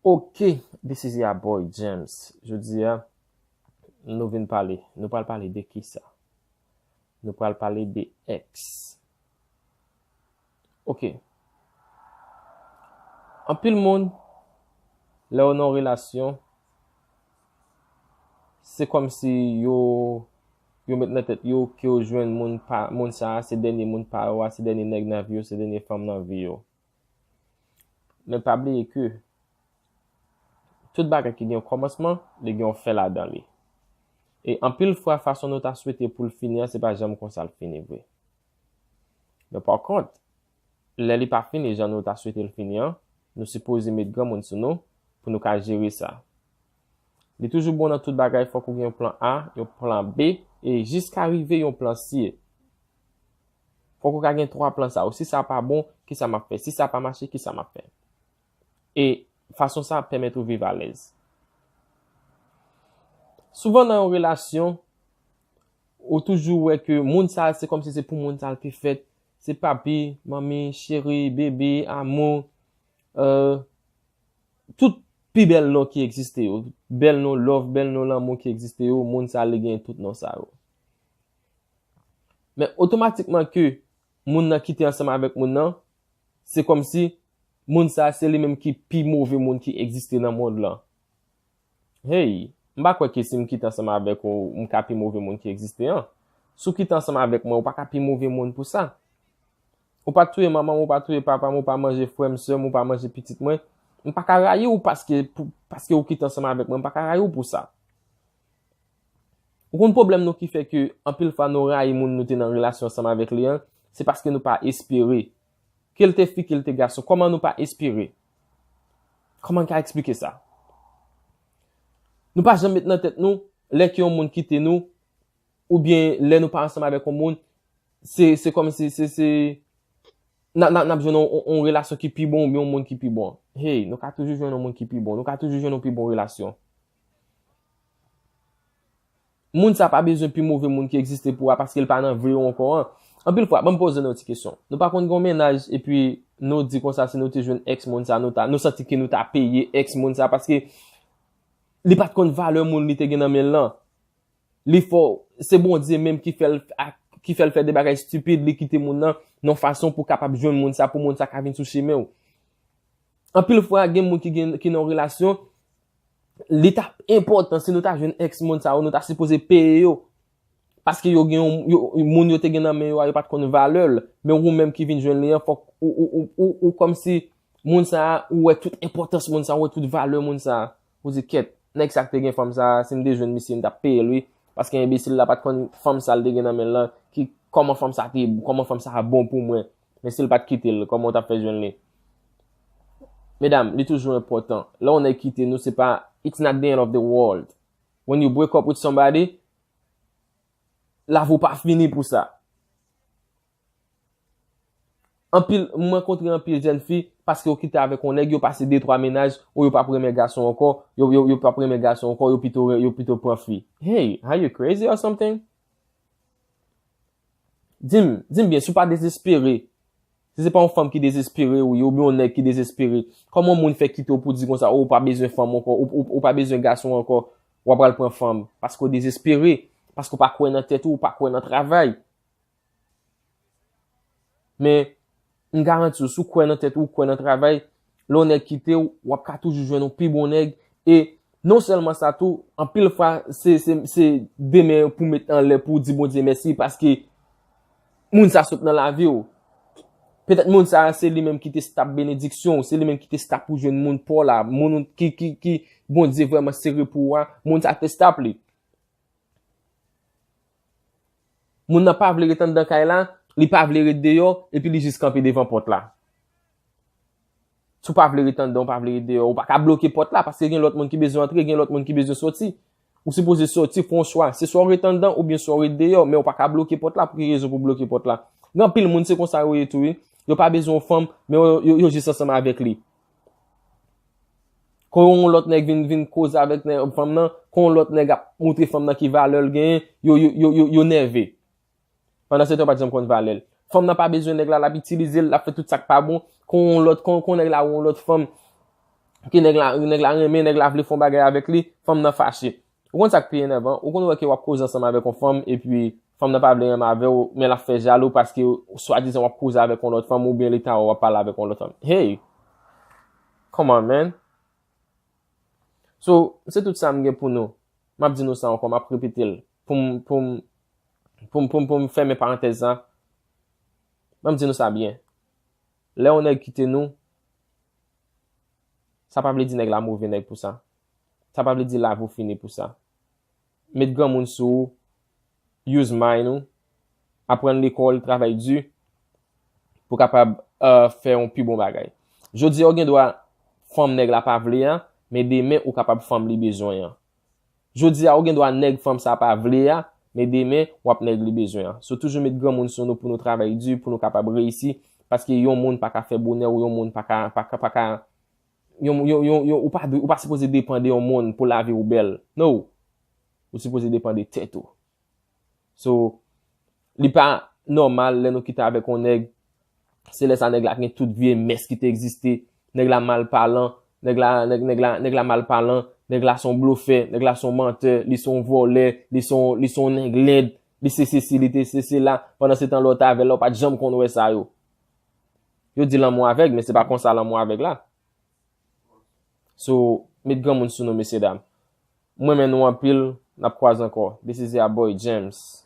Ok this is ya boy James Jodi a nou vin pale Nou pral pale de ki sa Nou pral pale de ex Ok Anpil moun Lè ou nan yon relasyon Se kòmsi yo yo met nan tèt yo ke yo jwenn moun pa moun sa a se dènye moun pa yo a, se dènye nèg nan vi yo, se dènye fanm nan vi yo. Men pa bliye ke tout bagay ki gen yon kòmansman, li gen yon fen ladan li. E anpil fwa fason nou ta swete pou l fini an se pa janm konsa l fini vre. Men pa kont, lè li pa fini jan nou ta swete l fini an, nou sipoze met granmoun sou nou pou nou ka jere sa. Li toujou bon nan tout bagay fòk ou gen yon plan A, yon plan B e jiska rive yon plan C. Fòk ou ka gen 3 plan sa yo, si sa pa bon, kisa m ap fè, si sa pa mache, kisa m ap fè. e fason sa ap pèmèt ou viv alèz. Souvan nan yon relasyon, ou toujou wè ke moun sa se kòm si se pou moun sa l te fèt, se papi, manmi, cheri, bebe, amou, euh, tout pi bèl non ki egziste yo, bèl non love, bèl non lanmou ki egziste yo, moun sa li gen tout non sa yo. Men otomatikman ke moun nan kite ansanm avèk moun nan, se kòm si Moun sa se li menm ki pi move moun ki egziste nan mond lan. Hey, m pa kwè ke si m kite ansanm avèk ou, m ka pi move moun ki egziste an. Si w kite ansanm avèk mwen, ou pa ka pi move moun pou sa. Ou pa touye manman m, ou pa touye papa m, ou pa manje frè m, sè m, ou pa manje pitit mwen. M pa ka rayi ou paske, paske ou kite ansanm avèk mwen, m pa ka rayi ou pou sa. Ou konn pwoblèm nou ki fè ke anpil fwa nou rayi moun nou te nan relasyon ansanm avèk li an, se paske nou pa espere Kel te fi kel te gason koman nou pa espere koman ka esplike sa nou pa janm met nan tèt nou lè ke yon moun kite nou ou byen lè nou pa ansanm avèk yon moun se se kòm se se se nan nan nan jounou yon relasyon ki pi bon ou byen yon moun ki pi bon hey nou ka toujou jounou yon moun ki pi bon nou ka toujou jounou pi bon relasyon Moun sa pa bezwen pi move moun ki egziste pou a paske l pa nan vi w ankò an. Anpil fwa, ban m poze nou yon ti kesyon. Nou pa konn gen yon mennaj epi nou di konsa si nou te jwenn èks moun sa nou ta, nou santi ke nou ta peye èks moun sa paske li pa t konn valè moun li te gen nan men l lan. Li fè w, se Bondye menm ki fè l ak, ki fè l fè de bagay stipid, li kite moun nan yon fason pou kapab jwenn moun sa, pou moun sa ka vin sou chemen w. Anpil fwa gen moun ki gen, ki nan yon relasyon. li ta enpòtan si nou ta jwenn ex moun sa yo nou ta sipoze peye yo paske yo gen yon moun yo te gen nan men yo a yo pat konn valè l men ou menm ki vin jwenn li an fòk ou kòm si moun sa a ou wè tout enpòtans moun sa a ou wè tout valè moun sa a ou di kèt nèg sa ki te gen fanm sa a si m te jwenn misye m ta peye l wi paske enbesil la pat konn fanm sa l te gen nan men l lan ki kòman fanm sa te kòman fanm sa bon pou mwen. Men sil pat kitel koman ou tap fè jwenn li? Medam li toujou enpòtan lè yon nèg kite nou se pa it's not the end of the world when you break up with somebody lavi w pa fini pou sa anpil mwen kontre anpil jèn fi paske yo kite avèk yon nèg yo pase 2 3 mennaj ou yo pap renmen gason ankò yo yo yo pap renmen gason ankò yo pito yo pito pran fi hey are you crazy or something Di m, di m byen, si w pa dezespere, si se pa yon fanm ki dezespere ou ye, oubyen yon nèg ki dezespere, kòman yon moun fè kite w pou di konsa, o, ou pa bezwen fanm ankò, ou pa bezwen gason ankò, w apral pran fanm, paske w dezespere, paske w pa kwè nan tèt ou, ou pa kwè nan travay. Men, M garanti w si w kwè nan tèt ou, w kwè nan travay, lè yon nèg kite w, w ap ka toujou jwenn yon pi bon nèg e non sèlman sa tou, anpil fwa se de men pou w met anlè pou w di Bondye mèsi paske moun sa sot nan lavi w. Petèt moun sa se li menm ki te stop benediksyon w, se li menm ki te stop pou w jwenn moun pa w la, moun ki Bondye vrèman sere pou ou a, moun sa te stop li. Moun nan pa vle ret anndan kay la, li pa vle ret deyò, epi li jis kanpe devan pòt la. Si w pa vle ret anndan, w pa vle ret deyò, ou pa ka bloke pòt la, paske gen lòt moun ki bezwen antre, gen lòt moun ki bezwen soti. Ou sipoze soti, fè yon chwa. Se swa w ret anndan, oubyen swa w ret deyò, men ou pa ka bloke pòt la, pou ki rezon pou w bloke pòt la? Gen anpil moun se konsa yo ye tou wi. Yo pa bezwen yon fanm, men yo jis ansanm avèk li. Kon yon lòt nèg vin vin koze avèk nè fanm nan, kon yon lòt nèg ap montre fanm nan ki valè l genyen, yo yo yo yo yo nève. Pandansetan yo pa t janm konn valè l. Fanm nan pa bezwen nèg la, l ap itilize l, l ap fè tout sa k pa bon. Kon yon lòt, kon kon nèg la wè yon lòt fanm, ke nèg la nèg la renmen, nèg la vle fè yon bagay avèk li, fanm nan fache. Ou konn sak pi enèvan, ou konn wè ke wap koze ansanm avèk yon fanm epi fanm nan pa vle renmen avèw men lap fè jalou paske swadizan wap koze avèk yon lòt fanm oubyen li ta wè wap pale avèk yon lòt fanm. Hey! Come on man! So, se tout sa m gen pou nou. Map di nou sa ankò, map repete l pou m, pou m, pou m, pou m, pou m fèmen parantèz sa. An m di nou sa byen. Lè yon nèg kite nou, sa pa vle di nèg la move nèg pou sa. Sa pa vle di lavi w fini pou sa. Met granmoun sou ou, use mind ou, aprann lekòl, travay di, pou kapab fè yon pi bon bagay. Jodi a ou gen dwa fanm nèg la pa vle a, men demen ou kapab fanm li bezwen an. Jodi a ou gen dwa nèg fanm sa pa vle a, men demen w ap nèg li bezwen an. So toujou met granmoun sou nou pou nou travay di, pou nou kapab reyisi, paske yon moun pa ka fè bonè w, yon moun pa ka. Yon, yon, yon, yon, ou pa dwe, ou pa sipoze depan de yon moun pou lavi ou bèl. No! Ou sipoze depan de tèt ou. So, li pa nòmal lè nou kite avèk yon nèg, se lè sa nèg la gen tout vye mès ki te egziste, nèg la mal palan, nèg la, nèg, nèg la, nèg la mal palan, nèg la se yon blofè, nèg la se yon mantè, li se yon vòlè, li se yon, li se yon nèg lèd, li se sesi, li te se sela, pandan se tan lè w te avè l la ou pa t janm konn wè sa yo. Yo di lanmou avèg men se pa konsa lanmou avèg la. So met granmoun sou nou mesye dam. M renmen nou anpil nap kwaze ankò this is ya boy James.